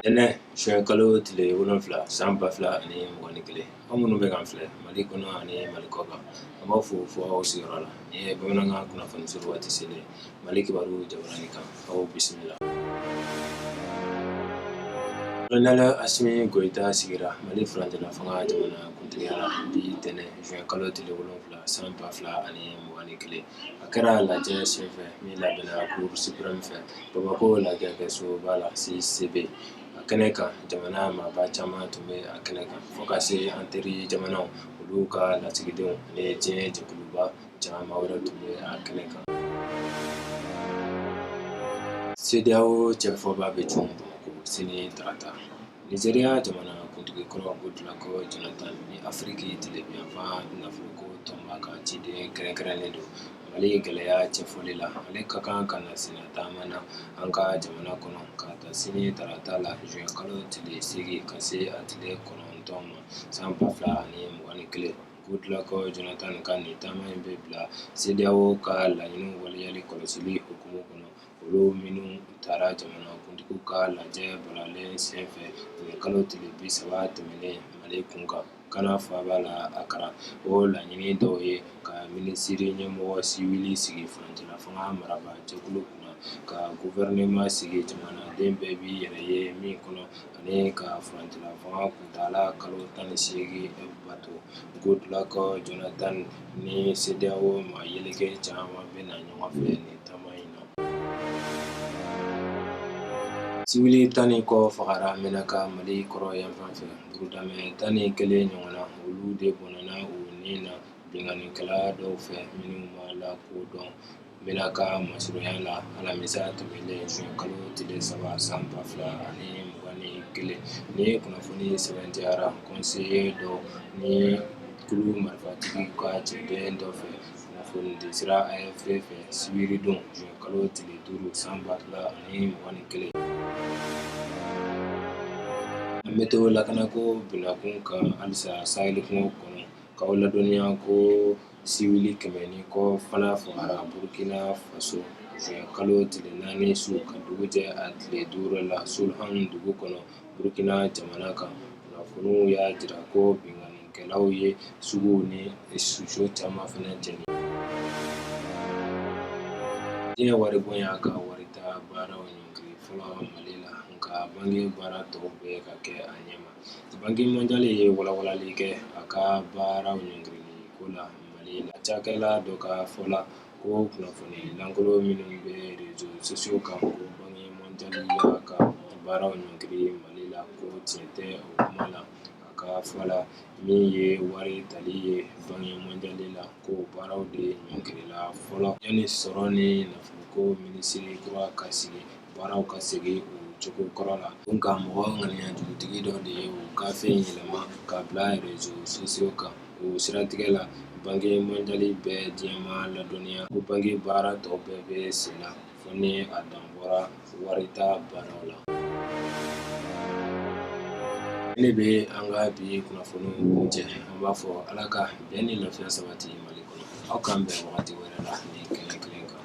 tɛnɛ juin kalo tile wolonfila san ba fila ani mugan ni kelen aw minnu bɛ k'an filɛ mali kɔnɔ ani mali kɔkan an b'aw fo fo aw sigiyɔrɔ la nin ye bamanankan kunnafoni surun waati selen mali kibaru jabaranin kan aw bisimila kolonɛli asimi goyita sigira mali furancɛla fanga jamana kuntigiya la bi tɛnɛ juin kalo tile wolonfila san ba fila ani mugan ni kelen a kɛra lajɛ senfɛ min labɛnna cour suprême fɛ Bamako lajɛkɛsoba la CICB a kɛnɛ kan jamana maaba caman tun bɛ a kɛnɛ kan fo ka se an teri jamanaw olu ka lasigidenw ani diɲɛ jɛkuluba caman wɛrɛ tun bɛ a kɛnɛ kan CEDEAO cɛfɔbaa bɛ cun Bamako sini tarata Nizeriya jamana kuntigi kɔrɔ Goodluck Jonathan ni afiriki tilebinyanfan nafolo ko tɔnba ka ciden kɛrɛnkɛrɛnnen don mali gɛlɛya cɛfɔli la ale ka kan ka na sen taama na an ka jamana kɔnɔ ka ta sini tarata la juin kalo tile seegin ka se a tile kɔnɔntɔn ma san ba fila ani mugan ni kelen Goodluck Jonathan ka nin taama in bɛ bila CEDEAO ka laɲini waleyali kɔlɔsili hukumu kɔnɔ olu minnu tara jamana kuntigiw ka lajɛ balalen senfɛ mɛ kalo tile bi saba tɛmɛnen mali kun kan Gana faaba la Akara o laɲini dɔw ye ka minisiri ɲɛmɔgɔ siwili sigi furancɛla fanga marabaa jɛkulu kunna ka guvɛrɛnɛma sigi jamanaden bɛɛ b'i yɛrɛ ye min kɔnɔ ani ka furancɛla fanga kuntaala kalo tan ni seegin bato Goodluck Jonathan ni CEDEAO maa yeleke caman bɛ na ɲɔgɔn fɛ taama in na. Civil tan ni kɔ fagara Menaka Mali kɔrɔnyanfan fɛ. Burudamɛ tan ni kelen ɲɔgɔn na, olu de bɔnɛna u ni na binkannikɛla dɔw fɛ minnu ma lakodɔn Menaka masurunya la alamisa tɛmɛnen juin kalo tile saba san ba fila ani mugan ni kelen. Ni ye kunnafoni sɛmɛntiyara conseiller dɔ ni kulu marifatigi ka cɛden dɔ fɛ. kunnafoni di sira AFP fɛ sibiridon juin kalo tile duuru san ba fila ani mugan ni kelen an bɛ to lakana ko binakun kan halisa saheli kungo kɔnɔ k'aw ladɔnniya ko siwili kɛmɛ ni kɔ fana fagara burukina faso juin kalo tile naani su ka dugu jɛ a tile duuru la Solhan dugu kɔnɔ burukina jamana kan kunnafoniw y'a jira ko binkanikɛlaw ye suguw ni suso caman fana jeni diɲɛ waribon y'a ka warita baaraw ɲɔngiri fɔlɔ mali la nka banki baara tɔw bɛ ka kɛ a ɲɛma banki mɔnjali ye walawalali kɛ a ka baaraw ɲɔngirili ko la mali la cakɛla dɔ ka fɔ la ko kunnafoni lankolo minnu bɛ reseaux sociaux kan ko banki mɔnjali y'a ka baaraw ɲɔngiri Mali la ko tiɲɛ tɛ o kuma la a ka fɔ la min ye wari tali ye banki mɔnjali la ko baaraw de ɲɔngirila fɔlɔ yanni sɔrɔ ni nafoloko minisiri kura ka sigi baaraw ka segin u cogo kɔrɔ la nka mɔgɔ ŋaniya jugutigi dɔ de ye o gafe in yɛlɛma ka bila reseaux sociaux kan o siratigɛ la banki mɔnjali bɛ diɲɛma ladɔnniya ko banki baara tɔ bɛɛ bɛ sen na fo ni a dan bɔra warita baaraw la ne bɛ an ka bi kunnafoni kuncɛ an b'a fɔ ala ka bɛn ni lafiya sabati mali kɔnɔ aw k'an bɛn wagati wɛrɛ la nin kɛnɛ kelen kan